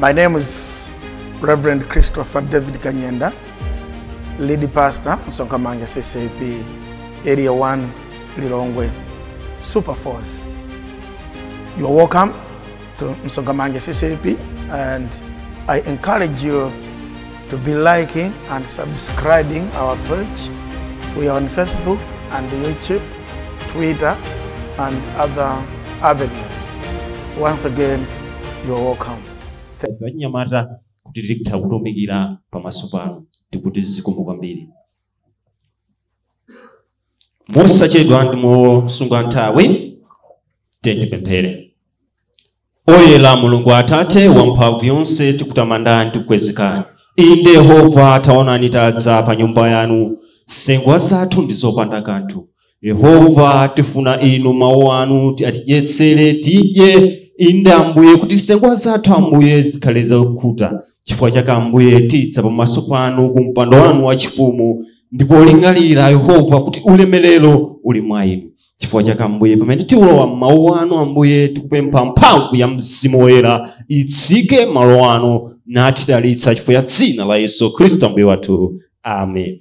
My name is Reverend Christopher David Kanyenda, lead pastor, Sonkamanga CCP, Area 1, Lilongwe, Super Force. You are welcome to Msongamanga CCP and I encourage you to be liking and subscribing our page. We are on Facebook and YouTube, Twitter, and other avenues. Once again, you are welcome. Thank you. anyamata kuti tikutha kutumikira pamaso panu ndikuti zikomo kwambiri mosachedwa ndi mosunga nthawi tiyeni tipemphere oyera mulungu atate wamphamvu yonse tikutamandani ndi kukukwezekani inde yehova taonani tadza pa nyumba yanu nsengwa zathu ndi zopanda kanthu yehova tifuna inu mawu anu atidyetsere tidye inde ambuye kuti nsengwa zathu ambuye zikhale zakhuta chifukwa chake ambuye tidza pamaso panu ku mpando wanu wachifumu ndi polingalira yehova kuti ulemerero uli mwa inu chifukwa chake ambuye pamene tilowa m'mawu anu ambuye tikupempha mphamvu ya mzimu woyera itsike malo ano natidalitsa chifukwa cha dzina la yesu khristu ambuye wathu amen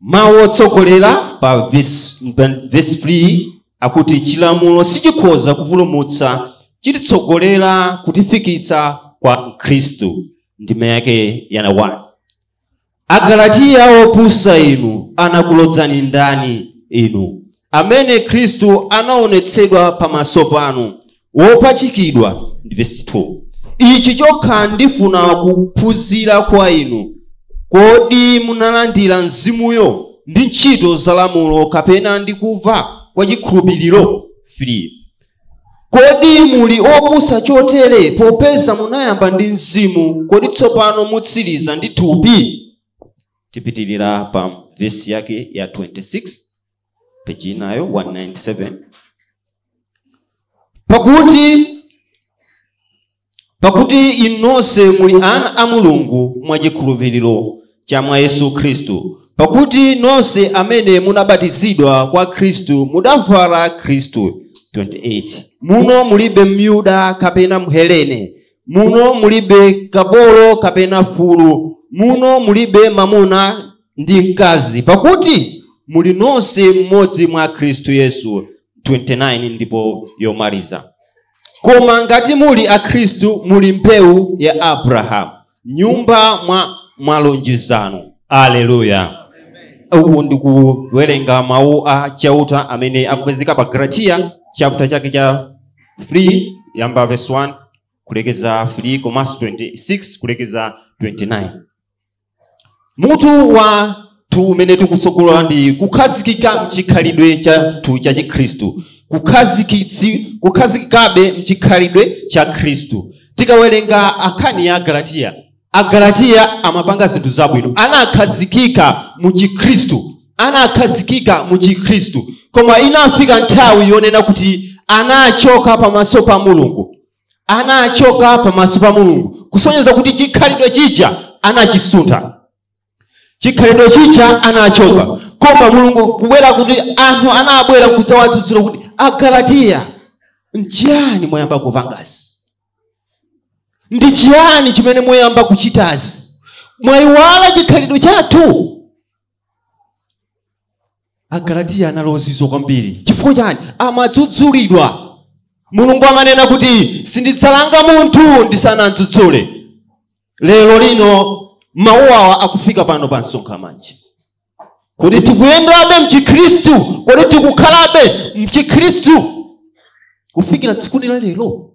mawu otsogolera pa vesi 3 akuti chilamulo sichikhoza kupulumutsa chititsogolera kutifikitsa kwa khristu ndime yake ya 1 agalatiya opusa inu anakulodzani ndani inu amene khristu anaonetsedwa pamaso panu wopachikidwa vesi 2 ichi chokha ndifuna kuphunzira kwa inu kodi munalandira mzimuyo ndi ntchito za lamulo kapena ndi kumva kwa chikhulupiriro 3 kodi muli opusa chotere popeza munayamba ndi mzimu kodi tsopano mutsiriza ndi thupi tipitirira pa vesi yake ya 26 peji inayo 197 pakuti inu nonse muli ana a mulungu mwa chikhulupiriro cha mwa yesu khristu pakuti nonse amene munabatizidwa kwa khristu mudavala khristu 28 muno mulibe myuda kapena mhelene muno mulibe kapolo kapena mfulu muno mulibe mamuna ndi mkazi pakuti muli nonse mmodzi mwa khristu yesu 29 ndipo yomaliza koma ngati muli akhristu muli mbewu ya abrahamu nyumba mwa malonjezano aleluya uku ndikuwerenga mawu a chauta amene akupezeka pa agalatiya chapter chake cha 3 kuyamba verse 1 kulekeza 3 komanso 26 kulekeza 29 mutu wathu umene tikutsogola ndi kukhazikika mchikhalidwe chathu cha chikhristu Kukhazikitsi- kukhazikikabe mchikhalidwe cha khristu tikawerenga nkhani ya agalatiya agalatiya amapanga zinthu zabwino anakhazikika mu chikhristu anakhazikika mu chikhristu koma inafika nthawi yonena kuti anachoka pamaso pa mulungu anachoka pamaso pa mulungu kusonyeza kuti chikhalidwe chija anachisuntha chikhalidwe chija anachoka koma mulungu kubwera kuti anthu anabwera kudzawadzudzula kuti agalatiya nchiyani mwayamba kupangazi ndi chiyani chimene mwayamba kuchitazi mwayiwala chikhalidwe chathu agalatiya anali ozizwa kwambiri chifukwa chani amadzudzulidwa mulungu amanena kuti sindidzalanga munthu ndisanadzudzule lero lino mawu awa akufika pano pa msonkha manje kodi tikuyendabe mchikhristu kodi tikukhalabe mchikhristu kufikira tsikuni la lero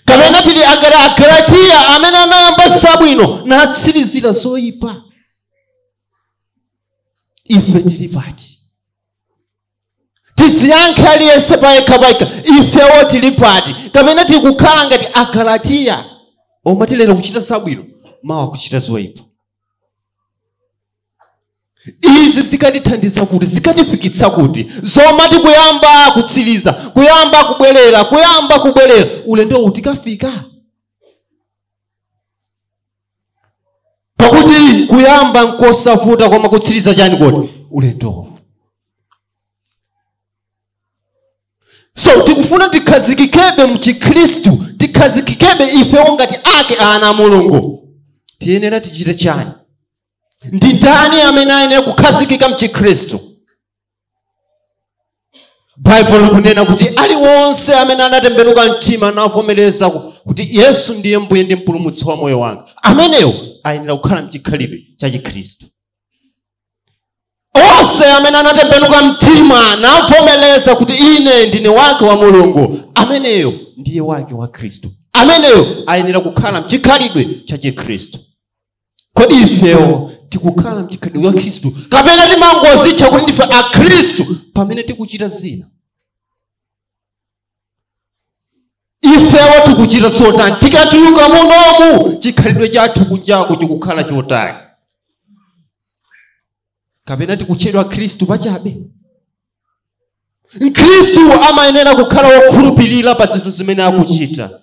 kapena tili agala agalatiya amene anayamba zabwino natsirizira zoyipa ife tili pati tidziyankhe aliyense payekha payekha ifewo tili pati kapena tili kukhala ngati agalatiya omati lero kuchita zabwino mawa kuchita zoyipa izi zikatithandiza kuti zikatifikitsa kuti zomati kuyamba kutsiriza kuyamba kubwerera kuyamba kubwerera ulendowu tikafika pakuti kuyamba nkosavuta koma kutsiriza chani kodi ulendowo so tikufuna tikhazikikebe mchikhristu tikhazikikebe ifewo ngati ake ana a mulungu tiyenera tichite chani ndi ndani amene ayenera kukhazikika mchikhristu baibulo likunena kuti ali onse amene anatembenuka mtima navomereza ku- kuti yesu ndiye mbuye ndi mpulumutsi wa moyo wanga ameneyo ayenera kukhala mchikhalidwe cha chikhristu onse amene anatembenuka mtima navomereza kuti ine ndine wake wa mulungu ameneyo ndiye wake wa khristu ameneyo ayenera kukhala mchikhalidwe cha chikhristu kodi ifewo tikukhala mchikhalidwe cha khristu kapena timangozitcha kuti ndife akhristu pamene tikuchita zina ifewo tikuchita zotani tikatuluka munomu chikhalidwe chathu kunjaku chikukhala chotani kapena tikutchedwa akhristu pachabe mkhristu amayenera kukhala wokhulupirira pa zinthu zimene akuchita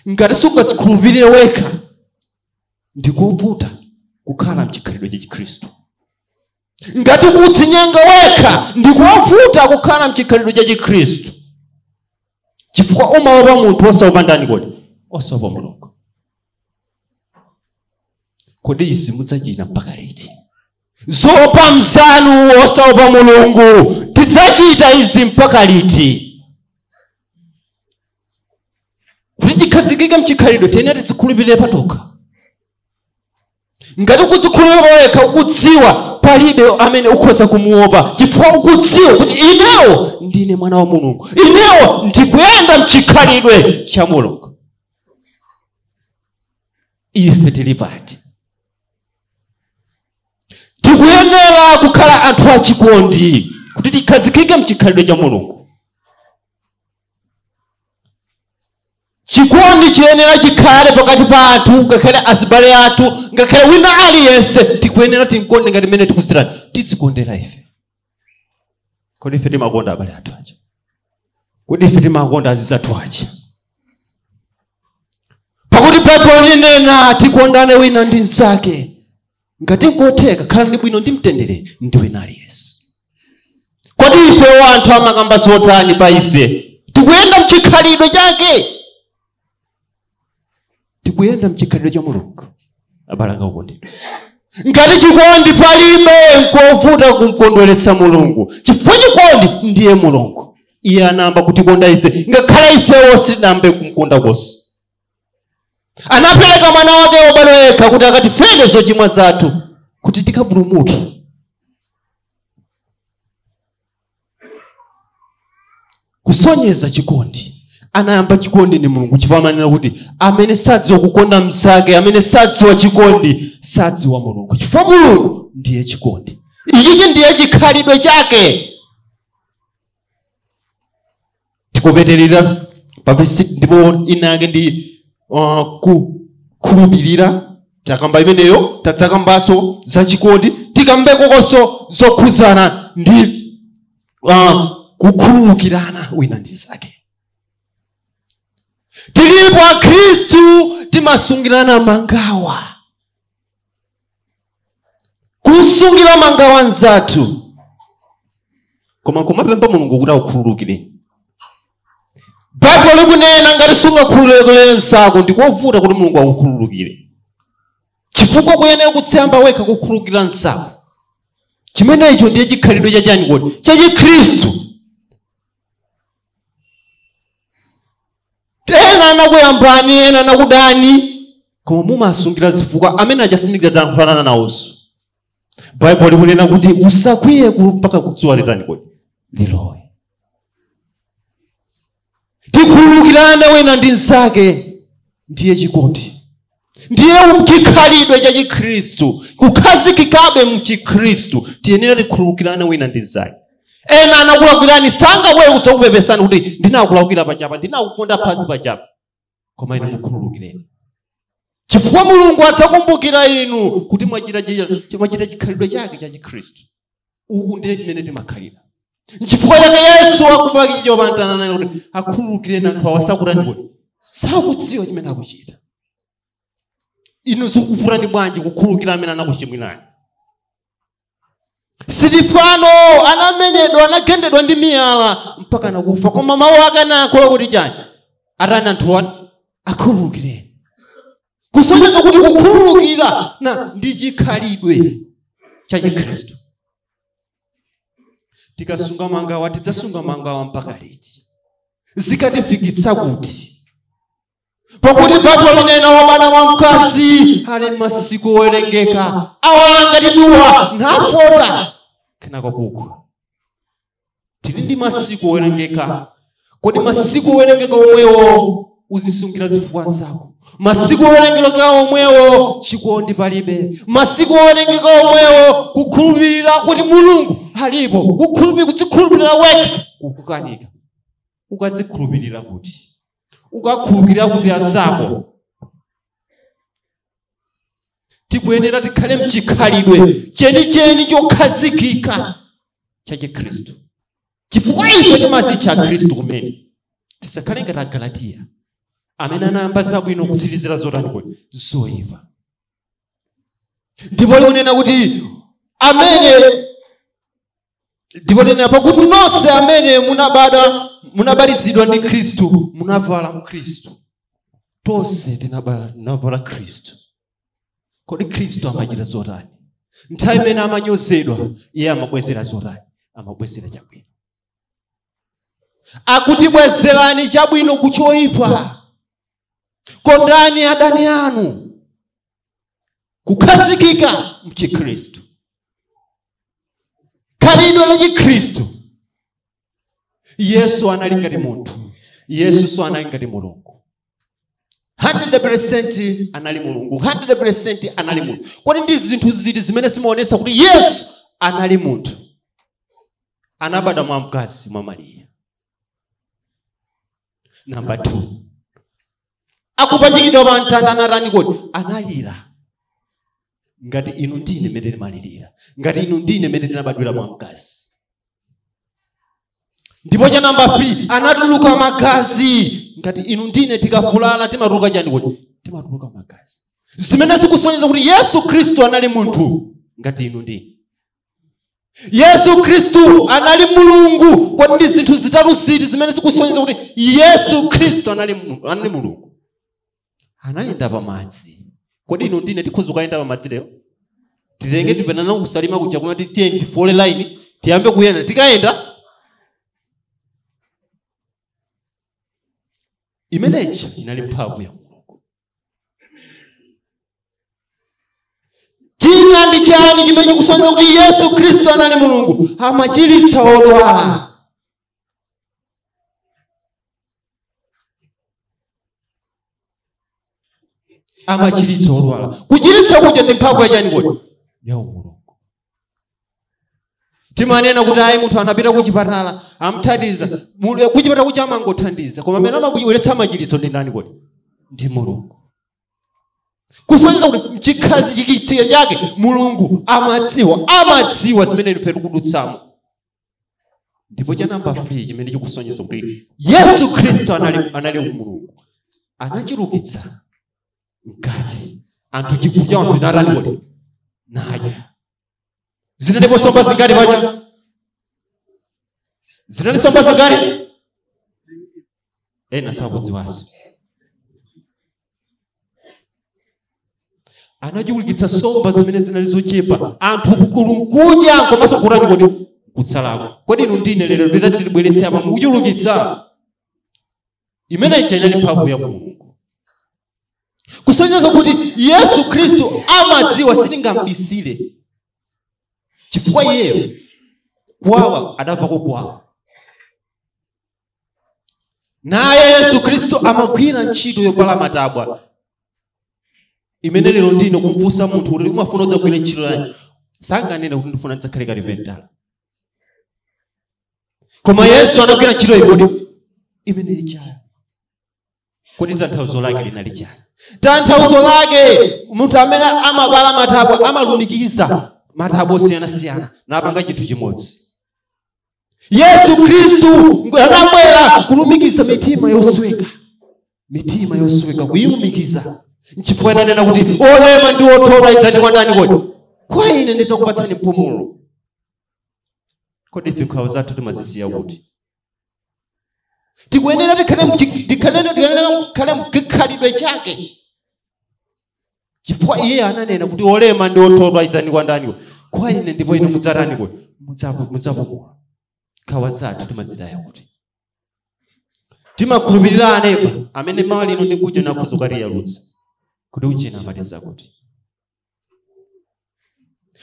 ngati sungadzikhulupirire wekha ndi kovuta kukhala mchikhalidwe cha chikhristu ngati ukudzinyenga wekha ndi kovuta kukhala mchikhalidwe cha chikhristu chifukwa umaopa munthu osaopa ndani kodi osaopa mulungu kodi izi mudzachita mpaka liti zoopa mzanu osaopa mulungu tidzachita izi mpaka liti kuti tikhazikike mchikhalidwe tiyenera tidzikhulupirire patokha ngati ukudzikhulupirira pawekha ukudziwa palibe amene ukhoza kumuopa chifukwa ukudziwa kuti inewo ndine mwana wa mulungu inewo ndikuyenda mchikhalidwe cha mulungu ife tili pati tikuyenera kukhala anthu achikondi kuti tikhazikike mchikhalidwe cha mulungu chikondi chiyenera chikhale pakati pa anthu ngakhale azibale athu ngakhale wina aliyense tikuyenera timkonde ngati mmene tikuzitirani tidzikondera ife kodi ife timakonda abale athu aja kodi ife timakonda azinzathu aja pakuti baibulo linanena tikondane wina ndi mnzake ngati nkotheka khalani bwino ndi mtendere ndi wina aliyense kodi ifewo anthu amakamba zotani pa ife tikuyenda mchikhalidwe chake tikuyenda mchikhalidwe cha mulungu abale anga okondedwa ngati chikondi palibe nkovuta kumkondweretsa mulungu chifukwa chikondi ndiye mulungu iye anayamba kutikonda ife ngakhale ifewo sitinayambe kumkonda konse anapereka mwana wake wobadwa yekha kuti akatifere zochimwa zathu kuti tikapulumuke kusonyeza chikondi anayamba chikondi ndi mulungu chifukwa amanena kuti amene sadziwa kukonda mnzake amene sadziwa chikondi sadziwa mulungu chifukwa mulungu ndiye chikondi ichichi ndiye chikhalidwe chake tikupeterera pavesi ndipo inake ndi uh, kukhulupirira takamba imeneyo tadzakambanso za chikondi tikambekonso zokhuzana ndi uh, kukhululukirana wina ndi nzake tilipo akhristu timasungirana mangawa kusungira mangawa nzathu koma nkumapempha mulungu kuti akukhululukire baibulo likunena ngati sungakhululukire nzako ndikovuta kuti mulungu akukhululukire chifukwa ukuyenera kuti uyambe wekha kukhululukira nzako chimenecho ndiye chikhalidwe chachani kodi chachikhristu ena anakuyambani ena anakudani koma mumasungira zifukwa amene achasindikiza dzayankhulanana nawonso baibulo likunena kuti usakwiye ku- mpaka dzuwa litani kodi lilowe tikhululukirane wina ndi mnzake ndiye chikondi ndiye chikhalidwe cha chikhristu kukhazikikabe mchikhristu tiyenera tikhululukirane wina ndi mnzake ena anakulakwirani sangabwere kudzakupepesani kuti ndinakulakwira pachapa ndinakuponda phazi pachapa koma inu mukhululukireni chifukwa mulungu adzakumbukira inu kuti mwachita chi- mwachita chikhalidwe chake cha chikhristu uku ndiye mmene timakhalira nchifukwa chake yesu akupachikidwa pamtanda anati akhululukireni anthu awa sakutani kuti sakudziwa chimene akuchita inu zikuvutani bwanji kukhululukira amene anakuchimwirani sitifano anamenyedwa anagendedwa ndi miyala mpaka anakufa koma mawu ake anayankhula kuti chani atani anthu ati akhululukireni kusonyeza kuti kukhululukirana ndi chikhalidwe cha chikhristu tikasunga mangawa tidzasunga mangawa mpaka liti zikatifikitsa kuti pakuti baibulo linena wobadwa mwa mkazi ali ndi masiku owerengeka awala ngati duwa nafota kenako kugwa tili ndi masiku owerengeka kodi masiku owerengeka omwewo uzisungira zifukwa azako masiku owerengeka omwewo chikondi palibe masiku owerengeka omwewo kukhulupirira kuti mulungu alipo kukhulupirira kudzikhulupirira wekha kukukanika ukadzikhulupirira kuti ukakhulupirira kuti azako tikuyenera tikhale mchikhalidwe chenicheni chokhazikika cha chikhristu chifukwa ife timadzitcha akhristu kumene tisakhale ngati agalatiya amene anayamba zabwino kutsirizira zotani kodi zoyipa ndipo likunena kuti amene ndipo linena pakuti nonse amene munabada munabatizidwa ndi khristu munavala mkhristu tonse tinaba- tinavala khristu kodi khristu amachita zotani nthawi imene amanyozedwa iye amabwezera zotani amabwezera chabwino akuti bwezerani chabwino ku choyipa kondani adani anu kukhazikika mchikhristu khalidwe la chikhristu yesu anali ngati munthu yesunso anali ngati mulungu 100 anali mulungu 100 anali munthu kodi ndi zinthu ziti zimene zimaonetsa kuti yesu anali munthu anabadwa mwa mkazi mwa mariya namba 2 akupachikidwa pa mtanda anatani kodi analira ngati inu ndine mmene timalirira ngati inu ndine mmene tinabadwira mwa mkazi ndipo cha namba 3 anatuluka magazi ngati inu ndine tikavulala timatuluka chani kodi timatuluka magazi zimene zikusonyeza kuti yesu khristu anali munthu ngati inu ndine yesu khristu anali mulungu kodi ndi zinthu zitatu ziti zimene zikusonyeza kuti yesu khristu anali mulungu anayenda pamadzi kodi inu ndine tikhoza kuyenda pamadzi lero titenge tipite nawo ku salima kuja kumati tiye tifole line tiyambe kuyenda tikayenda imeneyi inali mphamvu ya mulungu china ndi chani chimene chikusonyeza kuti yesu khristu anali mulungu amachiritsa odwala amachiritsa odwala kuchiritsa kuja ndi mphamvu ya chani kodi ya umulungu timanena kuti ayi munthu anapita kuchipatala amthandiza kuchipatala kuja amangothandiza koma amene amabweretsa machiritso ndi ndani kodi ndi mulungu kusonyeza kuti mchikhazikitso chake mulungu amadziwa amadziwa zimene ife tikudutsamo ndipo cha namba 3 chimene chikusonyeza kuti yesu khristu anali, anali mulungu anachulukitsa mkate anthu chikudya anthu natani kodi nadya zinalipo somba zingati paja zinali somba zingati ena sakudziwanso anachulukitsa nsomba zimene zinali zochepa anthu kulinkudya komanso kutani kodi kutsalako kodi inu ndine lero nditati ndibweretse apa mukuchulukitsa imene ija inali mphamvu ya mulungu kusonyeza kuti yesu khristu amadziwa sitingamubisire chifukwa iyeyo kuwawa adamvako kuwawa naye yesu khristu amagwira ntchito yopala matabwa imene lero nditi kumfunsa munthu kuti umafuna udzagwire ntchito yanji sanganene kuti ndifuna ndidzakhale kalipentala koma yesu anagwira ntchito iti kodi imene ijayi kodi tanthauzo lake linali chani tanthauzo lake munthu amene amapala matabwa amalumikiza matabwa osiyanasiyana napanga chinthu chimodzi yesu khristu anabwera kulumikiza mitima yosweka mitima yosweka kuyilumikiza nchifukwa ananena kuti olema ndi othodwa idzani kwa ndani kodi kwa ine ndidzakupatsani mpumulo kodi ife nkhawa zathu timazisiya kuti tikuyenera tikhale mchi- tikhalene- tiyenera kukhale mkhalidwe chake chifukwa iye ananena kuti olema ndi othodwa idzani kwa ndani kodi kwa ine ndipo ine mudzatani kodi Mudzapu- mudzapumula nkhawa zathu timazitaya kuti timakhulupirira aneba amene mawa lino ndi kuja nakhuza ukatiyalutsa kuti ujena amatiza kuti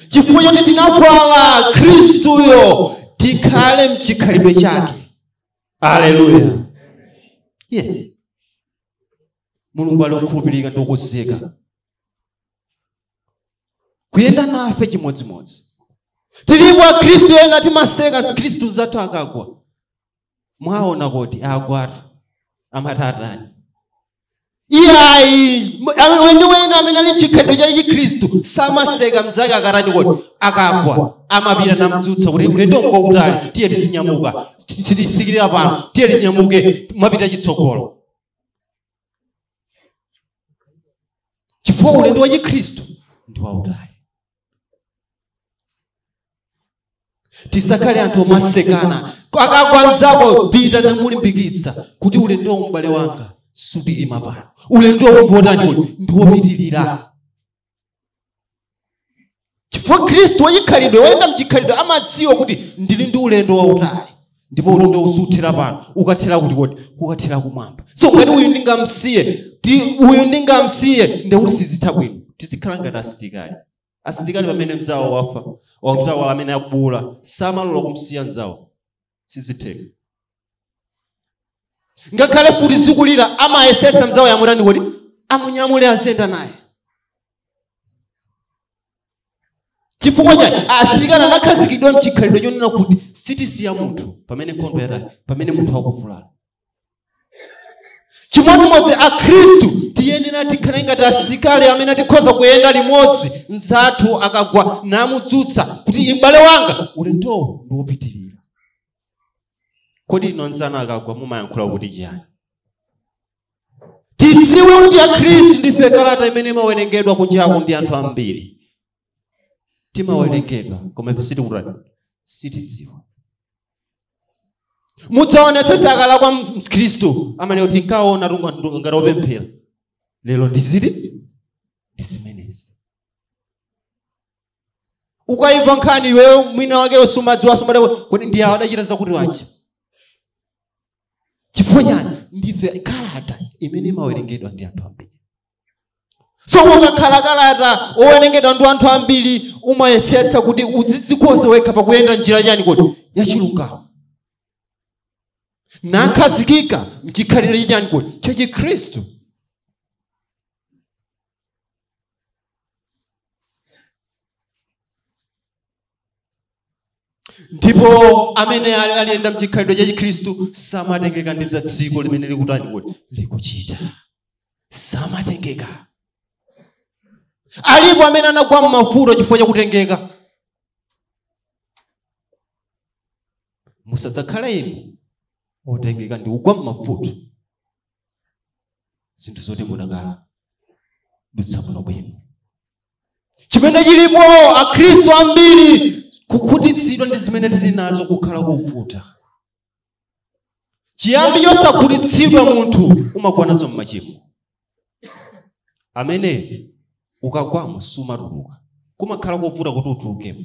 chifukwa choti tinavala khristuyo tikhale mchikhalidwe chake aleluya yeah. mulungu ali okhulupirika ndi okonzeka kuyenda nafe chimodzimodzi tilipo akhristu ena timaseka akhristu anzathu akagwa mwaona kuti agwatu amati atani iyayi weniweni amene ali mchikhalidwe cha chikhristu samaseka mzake akatani kodi akagwa amapita namdzutsa kuti ulendo ngokutali tiye tizinyamuka sitisikirira pano tiye tinyamuke mapita chitsogolo chifukwa ulendo wa chikhristu ndi wautali tisakhale anthu omasekana akagwa nzako pita namulimbikitsa kuti ulendowu m'bale wanga sukulima pano ulendo ngotani kodi ndiwopitirira chifukwa khristu wachikhalidwe woyenda mchikhalidwe amadziwa kuti ndili ndi ulendo wautali ndipo ulendo suthera pano ukathera kuti kodi ukathera kumwamba so ngati uyu ndingamsiye ti- uyu ndingamsiye ndekuti sizitha bwino tizikhala ngati asilikali asilikali pamene mzawo wafa mzawo amene akubuula samalola kumsiya mzawo sizitheka ngakhale mfuti zikulira amayesetsa mzawoyo amutani kodi amunyamule aziyenda naye chifukwa chani asilikali anakhazikidwa mchikhalidwe chonena kuti sitisiya munthu pamene nkhondo yatani pamene munthu akuvulala chimodzimodzi akhristu tiyenera tikhale ngati asilikali amene tikhoza kuyenda limodzi mzathu akagwa namudzutsa kuti m'bale wanga ulendowo ndi wopitirira kodi inu mzanu akagwa mumayankhula kuti chiyani tidziwe kuti akhristu ndife kalata imene imawerengedwa kunjako ndi anthu ambiri timawerengedwa koma ife sitikutani sitidziwa mudzaonetsetsa kale kwa mkhristu amanena kuti nkaona ngati opemphera lero ndiziri ndi zimenezi ukayimva nkhani iweyo mwina wake usumadziwa sumad- kodi ndi awo adachita zakuti wacha chifukwa chani ndife kalata imene imawerengedwa ndi anthu ambiri so ukakhala kalata wowerengedwa ndi anthu ambiri umayesetsa kuti udzidzikonze wekha pakuyenda njira chani kodi yachilungamo nakhazikika mchikhalidwe cha chani kodi chachikhristu ndipo amene al- alikuyenda mchikhalidwe cha chikhristu samatengeka ndi za dziko limene likutani kodi likuchita samatengeka alipo amene anagwa m'mavuto chifukwa cha kutengeka musadzakhala inu otengeka ndi kugwa m'mavuto zinthu zoti mudakaladutsa bwinobwino chimene chilipo akhristu ambiri kukhutitsidwa ndi zimene tili nazo kukhala kuvuta chiyambi chosakhutitsidwa munthu umagwa nazo m'machimo amene ukagwamo sumatuluka kumakhala kuvuta kuti utulukemo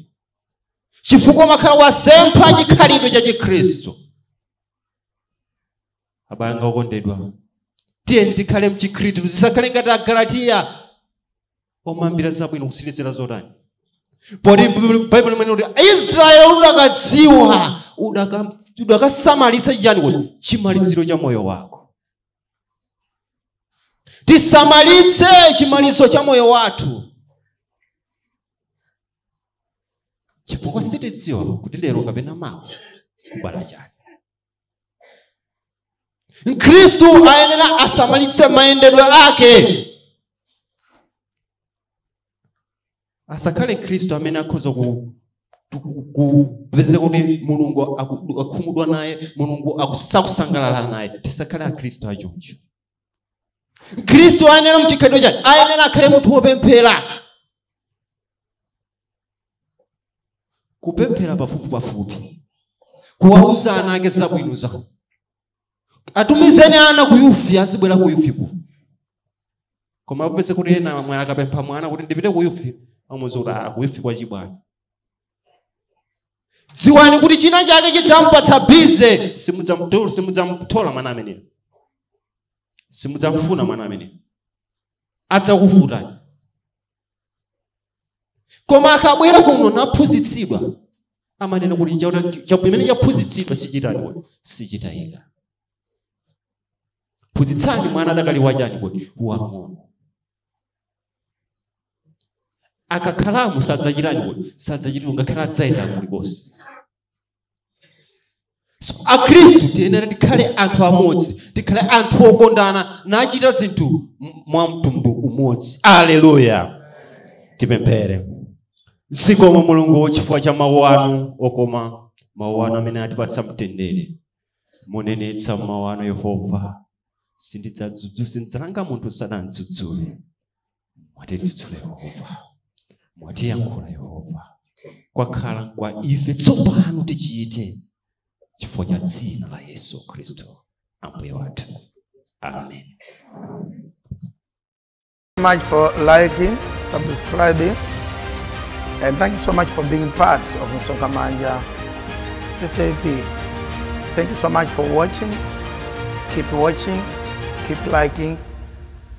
chifukwa umakhala wasempha chikhalidwe cha chikhristu abale anga okondedwa tiyeni tikhale mchikhristu tisakhale ngati agalatiya oyambira zabwino kutsirizira zotani poti baibulo limanena kuti israeli udakadziwa udaka- udakasamalitsa chiyani kodi chimaliziro cha moyo wako tisamalitse chimaliziro cha moyo wathu chifukwa sitidziwa kuti lero kapena mawa kubala chani mkhristu ayenera asamalitse mayendedwe ake asakhale mkhristu amene akhoza ku- ku- kupezeka kuti mulungu aku- akhumudwa naye mulungu aku- sakusangalala naye tisakhale akhristu achoncho mkhristu ayenera mchikhalidwe chake ayenera akhale munthu wopemphera kupemphera pafupipafupi kuwauza ana ake zabwino zake atumizeni ana ku yufi azibwera ku yufiku koma upeze kuti ena mwana akapempha mwana kuti ndipite ku yufi amuuza kuti "Ah, ku yufi kwa chibwana dziwani kuti china chake chidzampatsa bize simudzamtola simudzamtola mwana ameneyo simudzamfuna mwana ameneyo adzakuvutani koma akabwera kuno naphunzitsidwa amanena kuti chaona- cha- pamene chaphunzitsidwa sichitani kodi sichitayika phunzitsani mwana adakali wachani kodi wang'ono akakhalamu sadzachitani kodi sadzachitira ngakhale adzayenda kulikonse So, akhristu tiyenera tikhale anthu amodzi tikhale anthu okondana nachita zinthu m- mwa mtundu umodzi aleluya tipemphere zikomo mulungu chifukwa cha mawu anu okoma mawu anu amene atipatsa mtendere munenetsa mawu anu yehova sindidzadzudzu sindidzalanga munthu sanamdzudzule mwatidzudzula yehova mwatiyankhula yehova kwakhala kwa ife tsopano tichite chifukwa cha dzina la yesu khristu ambuye wathu amen much for liking, subscribing, and thank you so much for being part of Msonkhamanja CCAP. Thank you so much for watching. Keep watching, keep liking,